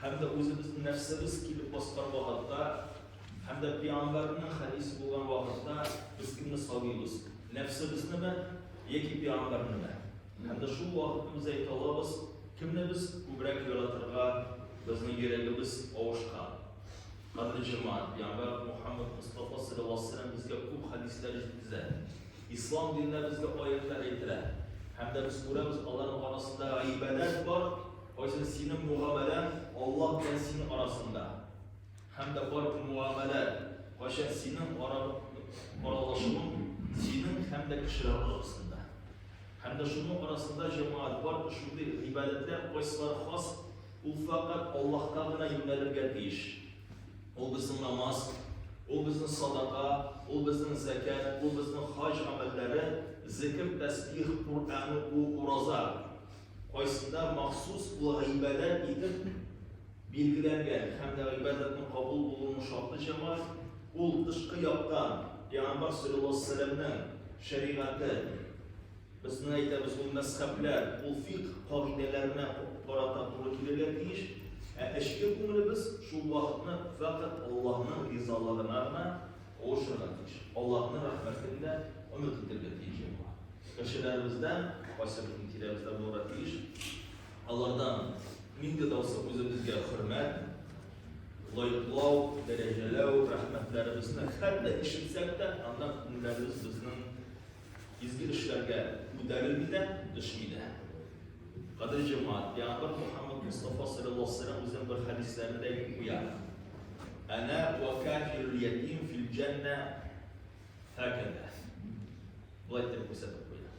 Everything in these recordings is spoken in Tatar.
Һәм дә үзебезне нәфсебез килеп баскан вакытта, һәм дә пәйгамбәрнең хәдисе булган вакытта без кемне сагыйбыз? Нәфсебезнеме яки пәйгамбәрнеме? Һәм дә шул вакытны без әйтә алабыз, кемне без күбрәк яратырга безнең йөрәгебез авышкан. Кадерле җәмәгать, пәйгамбәр Мухаммад Мостафа салләллаһу алейһи ва сәлләм безгә күп хәдисләр җиткезә. Ислам диненә безгә аятьләр әйтелә. Һәм дә без күрәбез, аларның арасында гыйбадәт бар. Кайсы синең мугамәләң Аллаһ белән син арасында? Һәм дә бар мугамәлә кайчан синең ара аралашуың синең һәм дә кешеләр арасында. Һәм дә шуның арасында җәмәгать бар шундый гыйбадәтләр кайсылар хас, ул фәкать Аллаһка гына юнәлергә тиеш. Ул безнең намаз, ул безнең садака, ул безнең зәкәт, ул безнең хаҗ гамәлләре, зикр, тәсбих, Куръән уку, ураза. кайсында махсус ул гыйбадәт итеп билгеләнгән һәм дә гыйбадәтнең кабул булуының шарты җәмаәт, ул тышкы яктан пәйгамбәр саллаллаһу алейһи вәсәлләмнең шәригате, безнең әйтәбез ул мәзхәбләр, ул фикъ кагыйдәләренә карата туры килергә тиеш, ә эчке күңелебез шул вакытны фәкать Аллаһның ризалыгына гына Куышырга тиеш. Аллаһының рәхмәтен дә өмет итәргә тиеш була. Кешеләребездән, кайсы безнең тирәбездә булырга тиеш, алардан мин дә даусы үзебезгә хөрмәт, лайклау, дәрәҗәләү, рәхмәтләребезне хәтта ишетсәк тә, аннан күңелләребез безнең Изге эшләргә күтәрелми дә, төшми дә. Кадер Җома, Пәйгамбәр Мөхәммәд Мустафа саллаллаһу алейһи ва үзенең бер хәдисләрендә әйтеп куя. Әнә ва кафирул ятим фил җәннә фәкәдә. Болай дип күрсәтеп куя.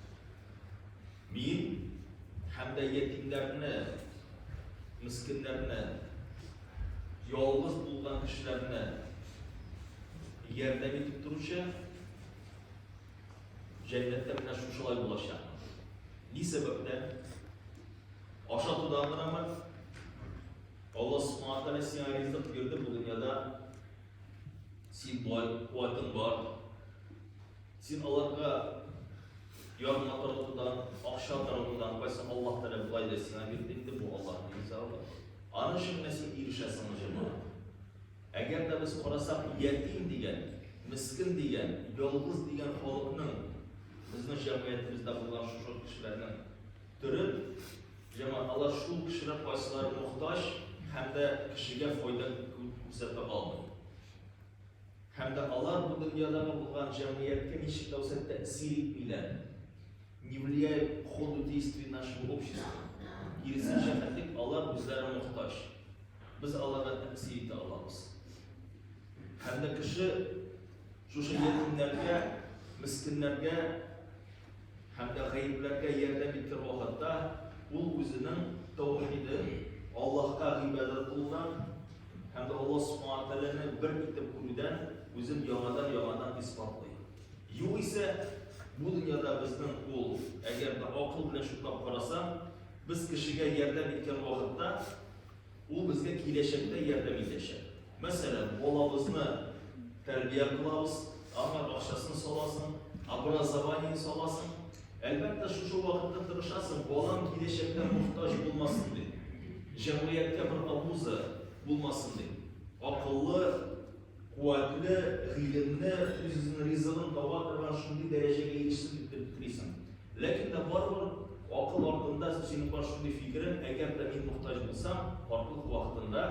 Мин һәм дә ятимнәрне, мискиннәрне, ялгыз булган кешеләрне ярдәм итеп торучы Җәннәттә менә шушылай булачак. Ни сәбәптән? Ашатудан гынамы? Алла Субхану Тәгалә сиңа ризык бирде бу дөньяда. Син бай, куәтең бар. Син аларга ярдәм таратудан, акча таратудан кайсы Аллаһ Тәгалә булай да сиңа бирде инде бу Аллаһның ризалыгы. Аны өчен син ирешәсең җәмәгать. Әгәр дә без карасак, ятим дигән, мескен дигән, ялгыз дигән халыкның, безнең җәмгыятебездә булган шушы кешеләрнең төре, җәмәгать, алар шул кешеләр кайсылары мохтаҗ һәм дә кешегә файда күрсәтә алмый. Һәм дә алар бу дөньядагы булган җәмгыятькә ничек тә булса тәэсир итмиләр. Не влияют к ходу действий нашего общества. Киресенчә, хәтлек алар үзләре мохтаҗ. Без аларга тәэсир итә алабыз. Һәм дә кеше шушы ятимнәргә, мескеннәргә һәм дә гаепләргә ярдәм иткән вакытта ул үзенең таухиден, Аллаһка гыйбадәт кылудан һәм дә Аллаһ Субхана Тәгаләне бер итеп күрүдән үзен яңадан-яңадан исбатлый. Югыйсә, бу дөньяда безнең ул, әгәр дә акыл белән шутлап караса, без кешегә ярдәм иткән вакытта Ул безгә киләчәктә ярдәм итәчәк. Мәсәлән, балабызны тәрбия кылабыз, аңа акчасын саласың, образование саласың. Әлбәттә, шушы вакытта тырышасың, балам киләчәктә мохтаҗ булмасын дип. Җәмгыятькә бер абуза булмасын дип. Акыллы, куәтле, гыйлемле, үзенең ризыгын таба торган шундый дәрәҗәгә ирешсен дип телисең. Ләкин дә барыбер акыл артында синең бар шундый фикерең, әгәр дә мин мохтаҗ булсам, картлык вакытында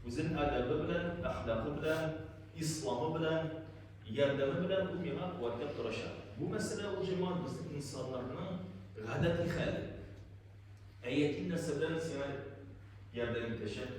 үзен әдәбе белән, әхлакы белән, исламы белән, ярдәме белән ул миңа куәтләп торачак. Бу мәсьәлә ул җаман безнең инсаннарның гадәти хәле. Әйәтин нәрсә белән сиңа ярдәм итәчәк?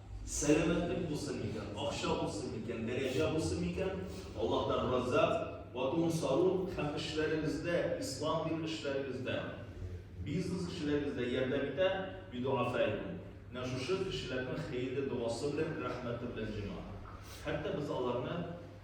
Сәламәтлек булсын микән, акча булсын микән, дәрәҗә булсын микән, Аллаһтан раззак, ватун сару һәм эшләрегездә, ислам дин эшләрегездә, бизнес кешеләрегездә ярдәм итә, бидуафәйкум. Менә шушы кешеләрнең хәерле догасы белән, рәхмәте белән җиңа. Хәтта без аларны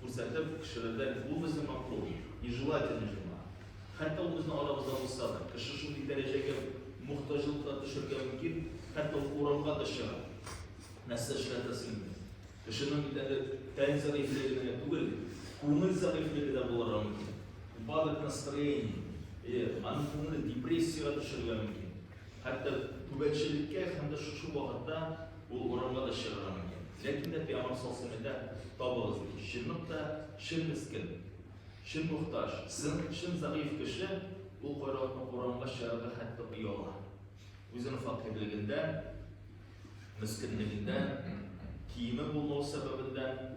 Күрсәтеп, кешеләрдән, Бу безнең макул, нежелательный журнал. Хәтта ул безнең арабызда булса да, кеше шундый дәрәҗәгә мохтаҗлыкка төшәргә мөмкин, хәтта ул урамга да чыгып, нәрсә эшләргә сыймый. Кешенең бит әле тән зәгыйфьлеге генә түгел, күңел зәгыйфьлеге дә булырга мөмкин. Упадок настроения. Әйе, аның күңеле депрессиягә төшәргә мөмкин. Хәтта түбәнчелеккә һәм дә шушы вакытта ул урамга да чыгарга мөмкин. Ләкин дә пиамар салсын әтә, табыгыз ди. Чынлык та, чын мескен, чын мохтаҗ, сын, чын зәгыйфь кеше ул кайракны урамга чыгарырга хәтта ояла. Үзенең фәкыйрьлегендән, мескенлегендән, киеме булмау сәбәбеннән.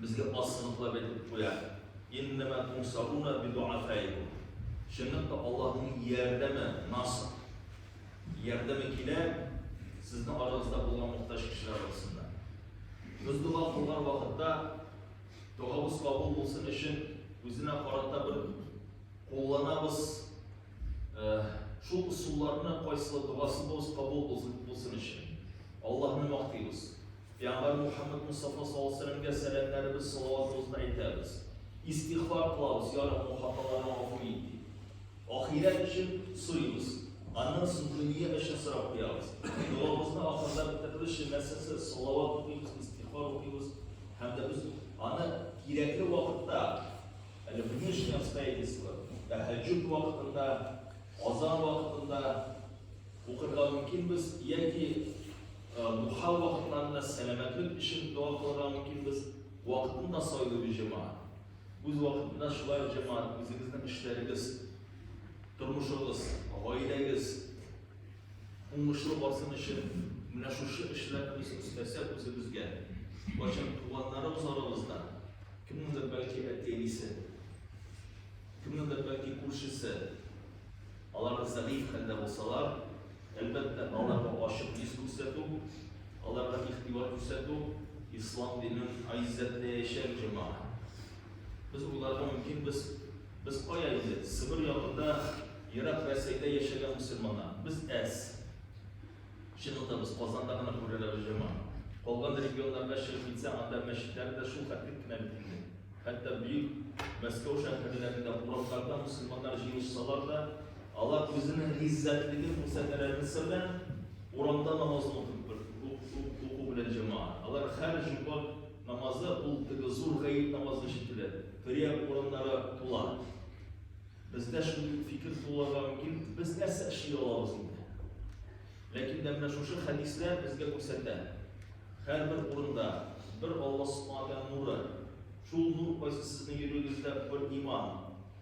Безгә аз сыныклап әйтеп куя, Иннәмә тунсаруна бидуафәикум. Чынлап та Аллаһның ярдәме, наср, ярдәме килә сезнең арагызда булган мохтаҗ кешеләр арасында. Без дога кылган вакытта догабыз кабул булсын өчен үзенә карата бер кулланабыз э, шул ысулларны кайсылы догасы булсын кабул булсын өчен. Аллаһны мактыйбыз. Пәйгамбәр Мухаммәд Мостафа саллаллаһу алейһи ва сәлләмгә сәламнәребез, салаватыбызны әйтәбез. Истигъфар кылабыз, Я Раббым, хаталарны гафу ит, дип. Ахирәт өчен сорыйбыз. Аннан соң дөнья өчен сорап куябыз. Догабызны ахырда бетерүебезчә нәрсәсе? Салават укыйбыз, истигъфар укыйбыз һәм дә без аны кирәкле вакытта, әле внешние обстоятельства, тәһәҗҗүд вакытында, азан вакытында укырга мөмкинбез яки Бу хәл вакытларында сәламәтлек өчен дога кылырга мөмкинбез. Вакытын да сайлыйбыз җәмәгать. Үз вакытында шулай ук җәмәгать үзегезнең эшләрегез, тормышыгыз, гаиләгез уңышлы барсын өчен менә шушы эшләрне без өстәсәк үзебезгә, кайчан туганнарыбыз арабызда, кемнеңдер бәлки әти-әнисе, кемнеңдер бәлки күршесе, алар зәгыйфь хәлдә булсалар, Әлбәттә, аларга ачык йөз күрсәтү, аларга игътибар күрсәтү, ислам динен гыйззәтләячәк җәмәгать. Без уйларга мөмкин, без, без кая инде, Себер ягында, ерак Рәсәйдә яшәгән мөселманнар, без әз. Чынында без Казанда гына күрәләбез җәмәгать. Калган регионнарга чыгып китсәң, анда мәчетләр дә шул хәтлек кенә бит инде. Хәтта бөек Мәскәү шәһәрләрендә урамнарда мөселманнар җыелышсалар да, Алар үзенең гыйззәтлеген күрсәтәләрме сер белән? Урамда намазын укып бер уку белән җәмәгать. Алар хәр җомга намазы ул теге зур гает намазы өчен түлә. Төрия урыннары тула. Бездә шул фикер туларга мөмкин, без нәрсә эшли алабыз инде? Ләкин дә менә шушы хәдисләр безгә күрсәтә. Һәрбер урында бер Алла Субхану нуры. Шул нур кайсы сезнең йөрәгегездә бер иман.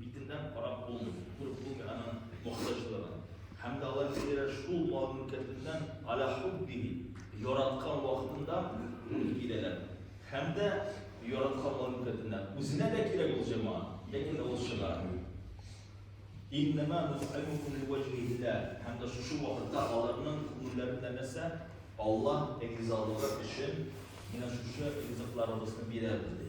Битеннән карап булмый, күреп булмый аның мохтаҗлыгын. Һәм дә Аллаһы Тәгалә шул мал мөлкәтеннән аля хуббихи, яраткан вакытында үк киләләр. Һәм дә яраткан мал мөлкәтеннән үзенә дә кирәк ул җәмәгать, ләкин дә ул чыгармый. Иннама нут'имукум лиуәҗһилләһ. Һәм дә шушы вакытта аларның күңелләрендә нәрсә? Аллаһ ризалыгы өчен менә шушы ризыкларыбызны бирәбез ди.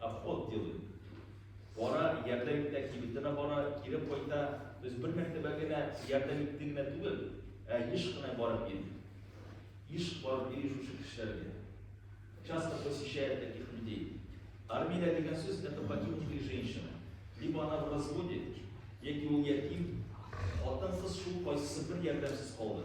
Обход делает. Бара, ярдәм итә, кибетенә бара, кире кайта. Без бер мәртәбә генә ярдәм итте генә түгел, ә еш кына барып йөри. Еш барып йөри шушы кешеләргә. Часто посещает таких людей. Армия дигән сүз это покинутые женщины. Либо она в разводе, яки ул ятим, хатын-кыз шул кайсысы бер ярдәмсез калды.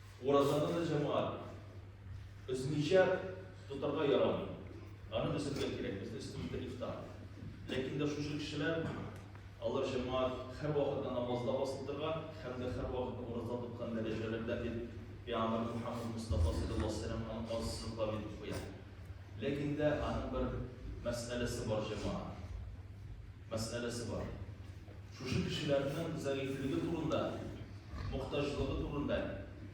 Уразаны да җәмәгать өзмичә тотарга ярамый. Аны өзергә кирәк, без өстендә ифтар. Ләкин дә шушы кешеләр алар җәмәгать һәр вакытта намазда басып торган һәм дә һәр вакытта ураза тоткан дәрәҗәләрдә дип Пәйгамбәр Мухаммад Мустафа саллаллаһу алейһи ва саллям аны казсызлыклап итеп куя. Ләкин дә аның бер мәсьәләсе бар җәмәгать. мәсьәләсе бар. Шушы кешеләрнең зәгыйфьлеге турында, мохтаҗлыгы турында,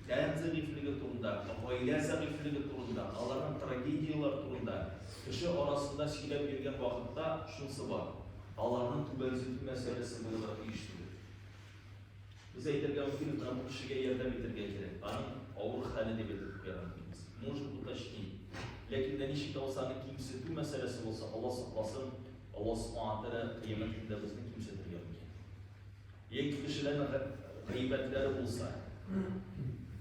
тән зәгыйфьлеге турында, гаилә зәгыйфьлеге турында, аларның трагедияләре турында кеше арасында сөйләп йөргән вакытта шунысы бар, аларның түбәнсетү мәсьәләсе булырга тиеш түгел. Без әйтергә мөмкин, менә бу кешегә ярдәм итәргә кирәк, аның авыр хәле дип әйтеп куярга мөмкинбез. Может уточнить. Ләкин дә ничек тә булса аны кимсетү мәсьәләсе булса, Алла сакласын, Алла Субхана ва Тәгалә Кыямәт көндә безне кимсетергә мөмкин. Яки кешеләрнең га- гайбәтләре булса,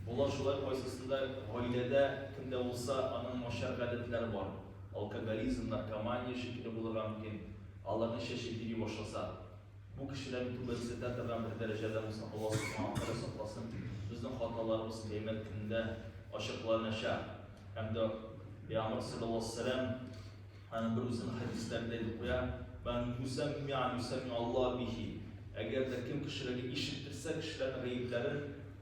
болар шулай кайсысында гаиләдә кемдә булса, аның начар гадәтләре бар. Алкоголизм, наркомания шикелле булырга мөмкин. Аларның чәче бири башласа, бу кешеләрне түбәнсетә торган бер дәрәҗәдә булса, Алла Субхана ва Тәгалә сакласын. Безнең хаталарыбыз Кыямәт көнендә ачыкланачак. Һәм дә Пәйгамбәр салләллаһу галәйһи ва сәлләм Аны берүзем хәдисләрдә дип куя, Мән юсәммиән юсәмми Алла бихи, Әгәр дә кем кешеләргә ишеттерсә кешеләрнең гаепләрен,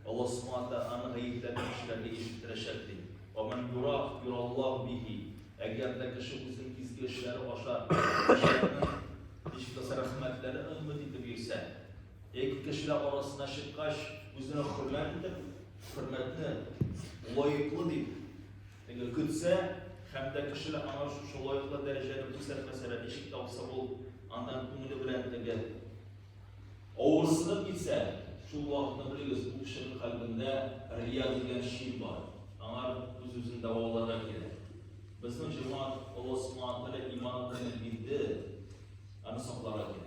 Алла субхана тәгаләнең гаепләрен кешеләргә ишеттерәчәк, ди. Вә мән юрах юраллаһу бихи, Әгәр дә кеше үзенең изге эшләре аша кешеләрнең, ничек тә булса, рәхмәтләрен өмет итеп йөрсә, яки кешеләр арасына чыккач үзенә хөрмәт итеп, хөрмәтне лаеклы дип, Әгәр көтсә һәм дә кешеләр аңа шушы лаеклы дәрәҗәне күрсәтмәсәләр, ничек тә булса ул аннан күңеле белән тегәр. Авырсынып китсә, шул вакытны белегез, бу кешенең кальбендә рия дигән шин бар, аңар үз-үзен дәваларга кирәк. Безнең җәмәгать Алла Субхана Тәгалә иманын бирде, аны сакларга кирәк.